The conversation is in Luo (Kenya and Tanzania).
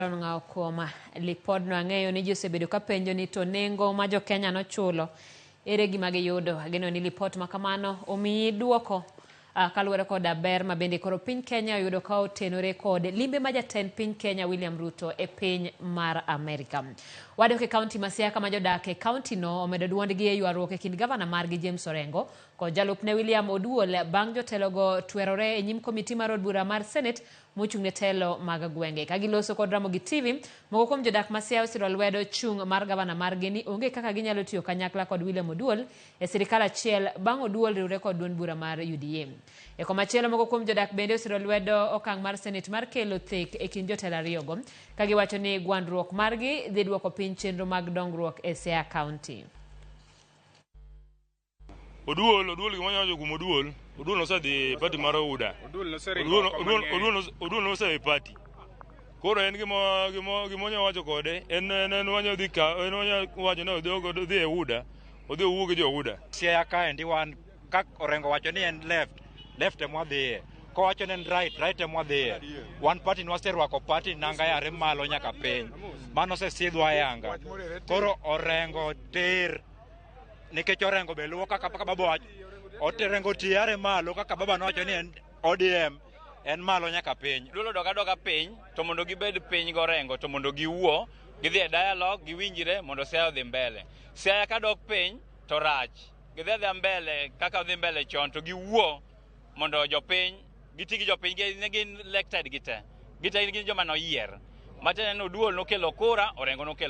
Aaron Ng'awo Kuoma. Lipodno ang'eyo ni ji osebedo ka penjo ni to nengo ma jo Kenya nochulo ere gima giyudo. Ageno ni lipot ma kamano omiyi duoko ah, kaluwore koda ber ma bende koro piny Kenya oyudo ka otenore kod limbe ma jatend piny Kenya William Ruto e piny mar Amerika. Wadok e kaunti ma Siaya kama jodak e kauntino omedo dwondgi e ywaruok e kind gavana margi James Orengo kod jalupne William Oduol bang' jotelogo twerore e nyim komiti mar od bura mar Senate mochung' ne telo mag gwenge. Ka giloso kod Ramogi TV, moko kuom jodak ma Siaya osiro lwedo chung' mar gavana margi ni onge kaka ginyalo tiyo kanyakla kod William Oduol e sirikal achiel bang' Oduol riwre kod duond bura mar UDA. E komachielo, moko kuom jodak bende osiro lwedo okang' mar Senate mar kelo thek e kind jotelo ariyogo, ka giwacho ni gwandruok margi dhi duoko piny chenro mag dongruok e Siaya County. Oduol, Oduol gima nyawacho kuom Oduol, Oduol nosedhi party mar UDA. Oduol noseringo Oduol, oko Oduol, mang'eny. Oduol, nos- Oduol nosewe party. Koro en gima gima gima onya wacho kode, en en en wanya dhi ka, en wanya wacho ni odhi ogo- odhi e UDA, odhi owuo gi jo UDA. Siaya kaendi wan ka Orengo wacho ni en left, left ema wadhiye. Kowacho ni en right, right ema wadhiye. Wan party ni waserwako party nanga yare malo nyaka piny. Mano osesidhwa ayanga. Koro Orengo tir nikech orengo be luwo kaka kaka baba wacho oterengo tiare malo kaka baba nowacho ni en odm en malo nyaka piny dulo doka doka piny to mondo gibed piny gorengo to mondo giwuo gidhi e dialogue giwinjire mondo siaya odhi mbele siaya ka dok piny to rach gidhi adhia mbele kaka odhi mbele chon to giwuo mondo jopiny giti gi jopiny gi- ne gin elected gite gite gin joma noyier matiende ni oduol nokelo kura orengo nokelo